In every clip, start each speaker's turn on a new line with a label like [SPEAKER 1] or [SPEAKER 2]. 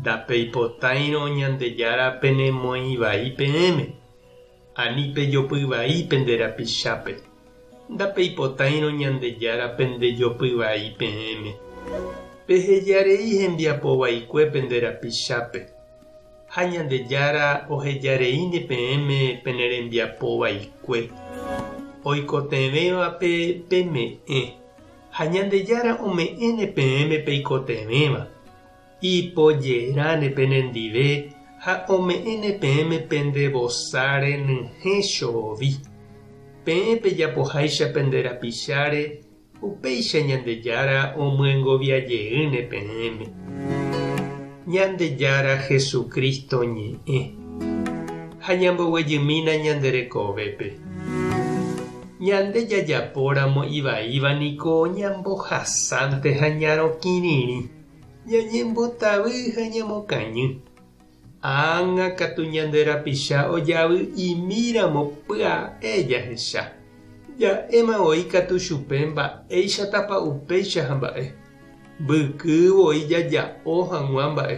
[SPEAKER 1] Ndapeipotáirõ Ñandejára penemoĩ vai peẽme, ani pejopy vai pende rapichápe. Ndapeipotáirõ Ñandejára pendejopy vai peẽme. Peheja rei hembiapo vaikue pende rapichápe, ha Ñandejára oheja reíne peẽme pene rembiapo vaikue. Oikotevẽvape peme'ẽ, ha Ñandejára ome'ẽne peẽme peikotevẽva. Ipojeráne penendive ha ome'ẽne peẽme pende vosa renyhẽ choovi. Peẽ pejapoháicha pende rapicháre, upéicha Ñandejára omyengovia jeýne peẽme. Ñandejára Jesucristo ñe'ẽ. Ha ñamboguejymína ñande rekovépe. Ñande jajapóramo ivaíva niko ñambohasánte ha ñarõ kirirĩ. Ñañembotavy ha ñamokañy. Ág̃a katu ñande rapicha ojavy'imi ramo pya'e jahecha, ja'éma voi katu chupe mba'éichatapa upéicha hamba'e. Mbyky voi jaja'o hag̃ua mba'e,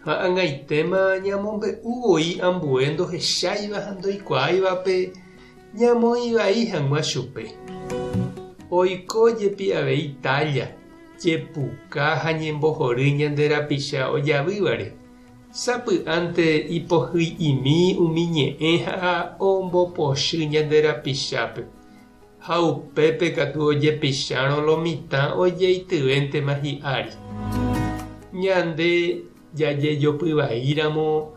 [SPEAKER 1] ha ag̃aitéma ñamombe'u voi ambue ndohecháiva ha ndoikuaáivape ñamoĩ vai hag̃ua chupe. Oiko jepi avei tálla Jepuka ha ñembohory ñande rapicha ojavývare, sapy'ánte ipohy'imi umi ñe'ẽ ha ombopochy ñande rapichápe, ha upépe katu ojepichárõ lo mitã ojeityvéntema hi'ári. Ñande jajejopy vai ramo,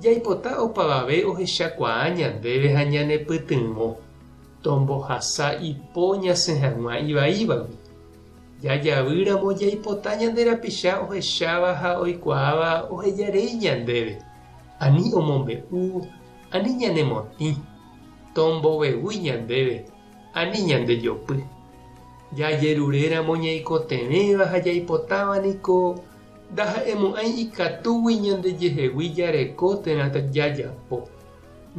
[SPEAKER 1] jaipota opavave ohechakuaa ñandéve ha ñanepytyvõ, tombohasa ipo ñasẽ hag̃ua ivaívagui. Jajavy ramo jaipota ñande rapicha ohecháva ha oikuaáva oheja rei ñandéve, ani omombe'u, ani ñanemotĩ, tombovevúi ñandéve, ani ñandejopy. Jajerure ramo ñaikotevẽva ha jaipotáva niko ndaha'emo'ãi ikatúgui ñandejehegui jareko térã jajapo.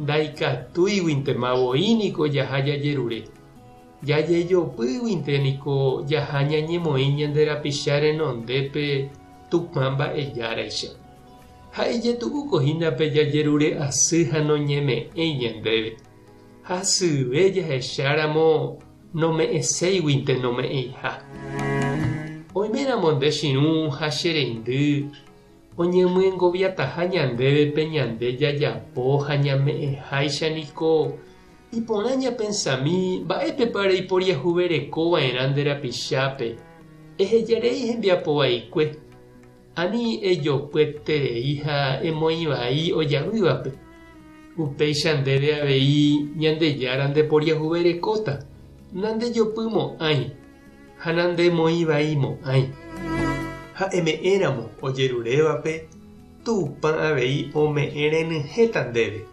[SPEAKER 1] Ndaikatúiguintema voi niko jaha jajerure. Jajejopýguinte niko jaha ñañemoĩ ñande rapicha renondépe Tupã Mba'ejáraicha. Ha ijetu'úko hína pe jajerure asy ha noñeme'ẽi ñandéve. Ha syve jahecháramo nome'ẽséiguinte nome'ẽiha. Oiméramo nde chirũ ha che reindy oñemyengoviataha ñandéve pe ñande jajapo ha ñame'ẽháicha niko Iporã ñapensami mba'épepa reiporiahuvereko va'erã nde rapichápe, ehejarei hembiapo vaikue, ani ejopyeterei ha emoĩ vai ojavývape. Upéicha ndéve avei Ñandejára ndeporiahuverekóta, nandejopy mo'ãi ha nandemoĩ vai mo'ãi. Ha'eme'ẽramo ojerurévape, Tupã avei ome'ẽrenyhẽta ndéve.